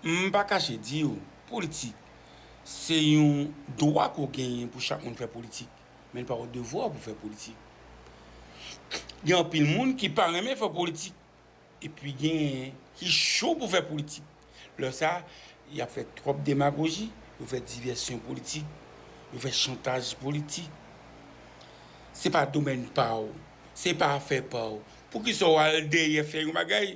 M pa kache di w, politik, se yon dwa ke w genyen pou chak moun fè politik, men li pa yon devwa w pou fè politik. Gen anpil moun ki pa renmen fè politik, epi genyen ki cho pou fè politik. Lè sa, y ap fè twòp demagoji, yo fè divèsyon politik, yo fè chantaj politik. Se pa domèn pa w, se pa afè pa w, poukisa w al dèyè fè yon bagay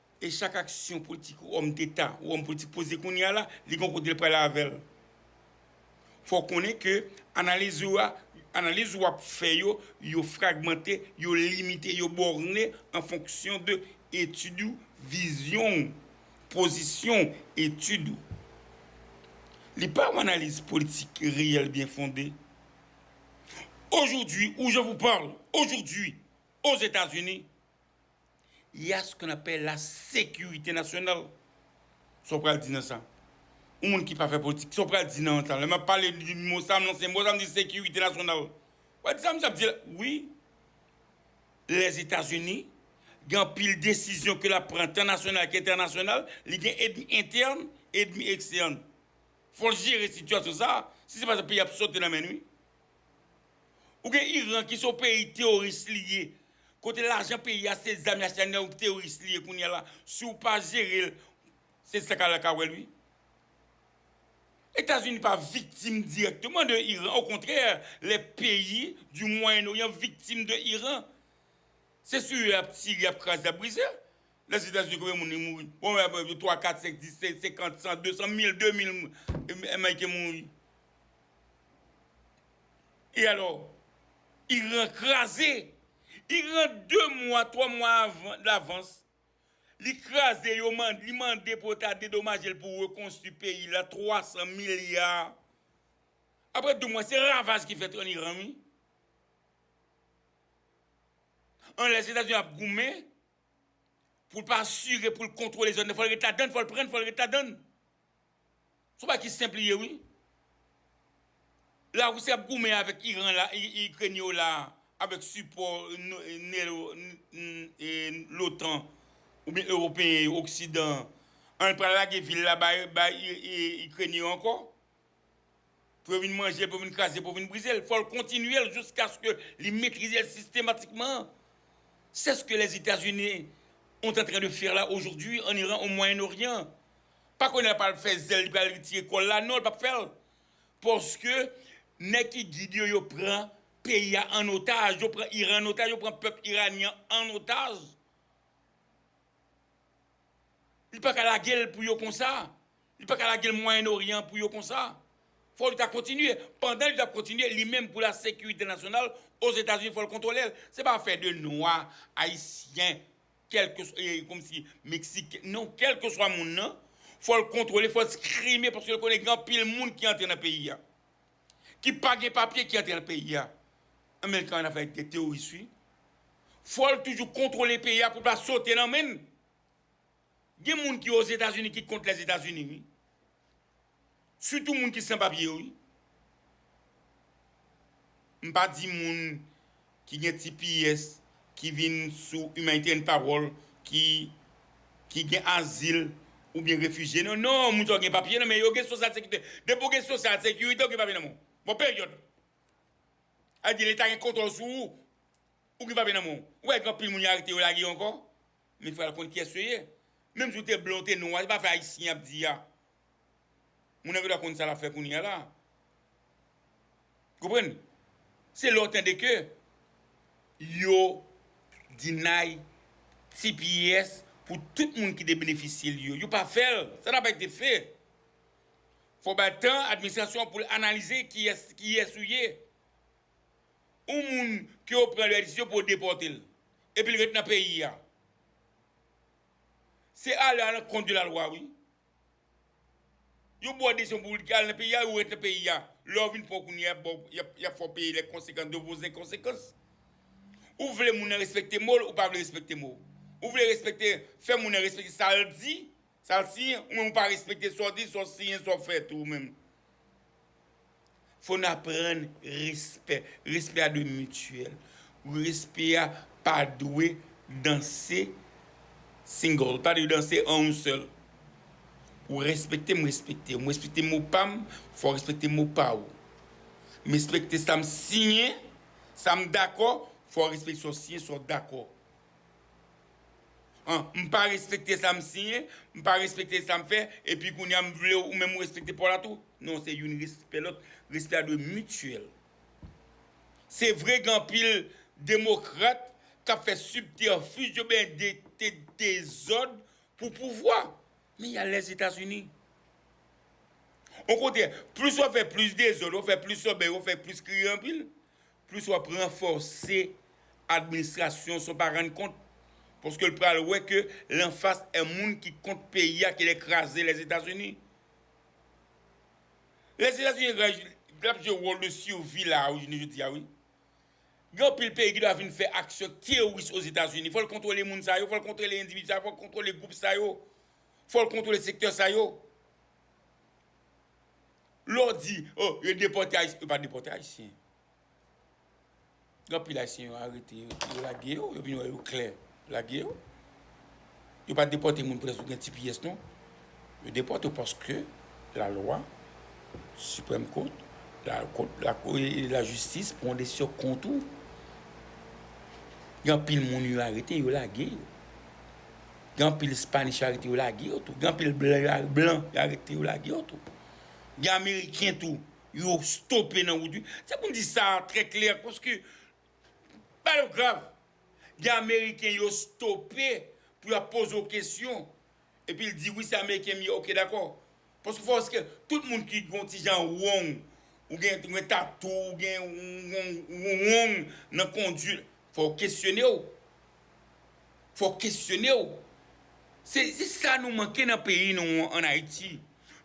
E chak aksyon politik ou òm deta ou òm politik poze kounye a la, li gon kote l prale avè l. Fò w konnen ke analiz ou a, analiz ou ap fè yo, yo fragmante, yo limite, yo bòrne an fonksyon de etid ou, vizyon ou, pozisyon ou, etid ou. Li pa yon analiz politik reyèl byen fonde. Aujourd'hui où je vous parle, aujourd'hui, Ozetazini, Il y a ce qu'on appelle la sécurité nationale. Sa w pral di nan sa? Yon moun ki pa fè politik, sa w pral di nan sa? Lè m ap pale di mo sa, m lanse mo sa, m di sekirite nasyonal. Ou pa di sa misye ap di la? Wi, Lèzetazini gen anpil desizyon ke l ap pran tan nasyonal ke entènasyonal, li gen edmi entèn, edmi ekstèn. Fò l jere sitiyasyon sa, si se pa sa peyi a ap sote nan men l wi. Ou gen Iran ki se yon peyi teoris li ye kote lajan peyi a se zam y achte nan yon teoris li ye kounya la si w pa jere l se sa k al la ka wè l wi. Etazini pa viktim dirèkteman de Iran okontrè lè peyi di mwayen oryan viktim de Iran se sou yo y ap tire y ap kraze y ap brize lèzetazini konbyen moun li mouri bon twa kat senk dis senkant san desan mil de mil ameriken mouri E alò, Iran kraze! Iran 2 mwa, 3 mwa davans, li kraze, yo mande, li mande pou yo ta dedomaje l pou rekonstwi peyi la 300 milya. Aprè 2 mwa, se ravaj ki fèt an Iran wi. An lès Etazini ap goumen pou l pa asire, pou l kontwole zòn nan, fò l ret ladann, fò l pran l, fò l ret ladann. Son bagay ki senp li ye wi. La Russie ap goumen avek Iran la Ukraine yo la avek sipò lotan oubyen Europeyen yo oksidan an pral lage vil la bay Ukraine yo ankò. Pou yo vin manje l, pou yo vin kraze l, pou yo vin brize l, fò l kontinye l jiskaske li metrize l sistematikman. Se s ke Lèzetazini ont antren de fè la ojodwi an Iran, o Mwayen Oryan. Pa kounye a l pral fè zèl, li pral retire kò l la, non li pap fè l. Paske nèg ki gid yo, yo pran peyi a an otaj, yo pran Iran an otaj, yo pran pèp Iranyan an otaj. Li paka lage l pou yo konsa. Li pa ka lage l Mwayen Oryan pou yo konsa. Fò li ta kontinye. Pandan li t ap kontinye, li menm pou la sekirite nasyonal Ozetazini fò l kontwole l. Se pa afè de nwa, ayisyen, kèlkeswa, e komsi meksiken, non, kèlkeswa moun nan, fò l kontwole, fò l skrime paske l konnen gen anpil moun ki antre nan peyi a. Ki pa gen papye ki antre nan peyi a. An men l ka ann afè ak de teworis wi. Fò l toujou kontwole peyi a pou l pa sote nan men l. Gen moun ki ozetazini ki kont lèzetazini wi. Sitou moun ki san papye yo wi. M pa di moun ki gen tps, ki vin sou humanitarian parole, ki gen azil oubyen refijye. Non non moun sa yo gen papye nan men yo gen social securite. Depi ou gen social securite ou gen papye nan men w. Bon period. Sa vle di leta gen kontwòl sou ou. Ou gen papye nan men w. Ou pa wè gen anpil moun yo arete yo lage yo ankò. Men pral konn kiyès yo ye. Menm si w te blan w te nwa se pa afè ayisyen y ap di a. Moun an gen dwa konn sa l ap fè kounye a la. Konprann? Se lè w tande ke yo deny tps pou tout moun ki te benefisye li yo. Yo pa fè l. Sa n'a pa ete fè. Fò w bay tan administrasyon an pou l analize kiyès ou ye. yon moun ke yo pran lè desizyon pou yo depòte l epi l ret nan peyi a se ale a lankont de lalwa wi yo ba w desizyon pou al nan peyi a ou ret nan peyi a lè w vin pran kounye a y ap fè w peye lè konsekans de vos enkonsekans ou vle moun nan respekte mo l ou pa vle respekte mo ou vle respekte fè moun nan respekte sa l di Sa l siyen ou menm ou pa respekte sa w di, sa w siyen, sa w fè tou ou menm. Fò n aprann respè. Respè a dwe mityèl. Respè a pa dwe danse single, pa dwe danse an yon sèl. Ou respekte m, m respekte w. M respekte mo pa m, fò w respekte mo pa ou. M respekte sa m siyen, sa m dakò, fò w respekte sa w siyen, sa w dakò. M pa respekte sa m siyen, m pa respekte sa m fè, epi kounya m vle ou menm ou respekte paw la tou? Non se youn respè lòt, respè a dwe mityèl. Se vre gen anpil demokrat k ap fè sibtèfij yo byen dikte dezòd pou pouvwa. Men y al Lèzetazini. Okontrè, plis w ap fè plis dezòd, w ap fè plis lòbèy, w ap fè plis kriye anpil, Plis w ap ranfòse administrasyon sa w pa rann kont paske l pral wè ke l anfas en moun ki kont peyi a ki lè kraze Lèzetazini. Lèzetazini rèj l ap jwe wòl de survie la a wi jounen jodi a wi. Gen anpil peyi ki ta vin fè aksyon teworis Ozetazini fò l kontwole moun sa yo, fò l kontwole endividi sa yo, fò l kontwole gwoup sa yo, fò l kontwole sektè sa yo. Lè w di, o, yo depòte Ayisyen, yo pa depòte Ayisyen. Gen anpil Ayisyen yo arete yo, yo lage yo, yo vin wè yo klè, yo lage yo. Yo pa depòte moun prèske ki gen tps non. Yo depòte yo paske lalwa, Siprèm Kot, lajistis pran desizyon kont ou. Gen anpil moun yo arete, yo lage yo. Gen anpil Spanish yo arete yo lage yo tou. Gen anpil blan yo arete yo lage yo tou. Gen Ameriken tou yo stope nan wout wi. Se pou m di sa a trè klè paske bagay yo grav. Gen Ameriken yo stope pou y ap poze w kesyon epi l di wi se Ameriken m ye ok dakò. Paske fò se ke tout moun ki gon ti jan wong ou gen ou gen tatou ou gen yon wong nan conduit fò w kesyone w fò w kesyone w se sa nou manke nan peyi nou an an ayiti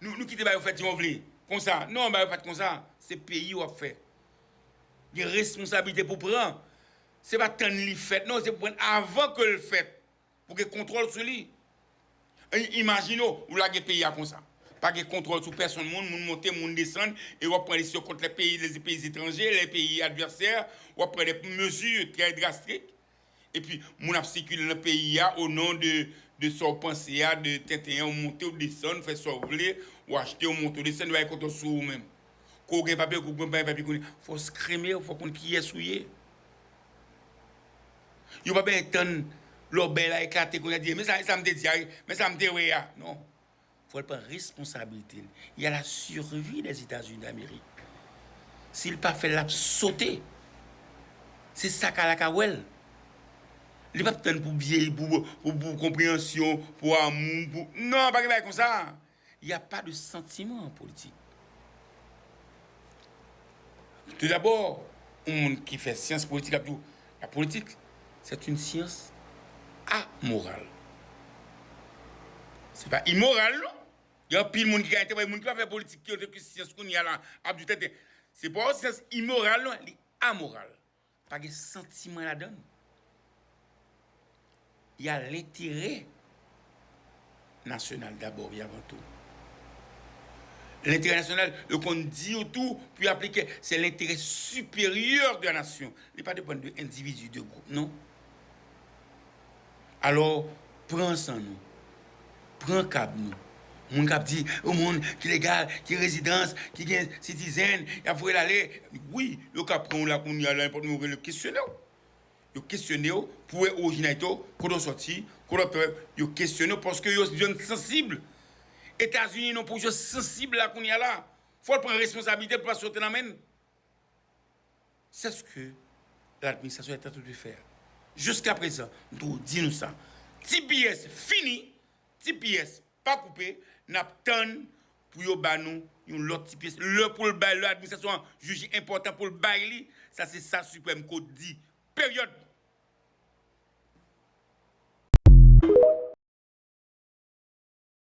nou kite bagay yo fèt jan yo vle konsa non bagay yo pat konsa se peyi w ap fè gen responsabilite pou pran se pa tann li fèt non se pou pran avan ke l fèt pou gen kontwòl sou li. Imajine ou lage peyi a konsa. Pa gen kontwòl sou pèsonn moun, moun monte, moun desann, e w ap pran desizyon kont lè peyi lè peyi etranje, lè peyi advèsè, w ap pran de mezi trè drastik, epi moun ap sikile nan peyi a o non de de sa w panse a, de tenten an, ou monte ou desann, ou fè sa w vle, ou achte, ou monte ou desann, yo pa gen kontwòl sou ou menm. Ke w gen papye, ke w pa gen papye, fò w skrime, fò w konn kiyès ou ye. Yo pa bezwen tann lòbèy la eklate pou yo di, men sa m te di a, men sa m te wè a. Non. Fò l pran responsabilite l. Y a la survie des États-Unis d'Amérique. Si l pa fè l, l ap sote. Se sa kala ka wè l. Li pap tann pou byeyi, pou konpreyansyon, pou amou, pou. Non, pa gen bagay konsa. Il y a pas de sentiment en politique. Tout d'abord, yon moun ki fè syans politik ap di w, la politik sè t'youn syans amoral. Se pa imoral non, gen anpil moun ki ka entèprete, moun ki pa fè politik ki entèprete syans kounye a la ap di w tenten. Se pa yon syans imoral non, li amoral. Pa gen santiman ladann. Y a lenterè nasyonal dabò e avan tou. Lenterè nasyonal, yo konn di yo tou pou y aplike, se lenterè siperyè de la nasyon. Li pa depann de endividi, de gwoup non. Alò, pran san nou. Pran kab nou. Moun k ap di, yon moun ki legal, ki rezidans, ki gen sitizèn, y ap voye l ale. Wi, yo ka pran w la kounye a, la, nenpòt moun yo rele yo kesyone w. Yo kesyone w pou wè orijinalite w, kote w soti, kote w ap travay. Yo kesyone w paske yo jwenn w sansib. Etazini non pou w jwenn sansib la kounye a la. Fò l pran responsablite l pou l pa sote nan men n. C'est ce que l'administration est en train de faire jusqu'à présent m toujou di nou sa tps fini tps pa koupe nap tann pou yo ba nou yon lòt tps lè poul bay lè administration an jije enpòtan poul bay li sa se sa supreme court di period.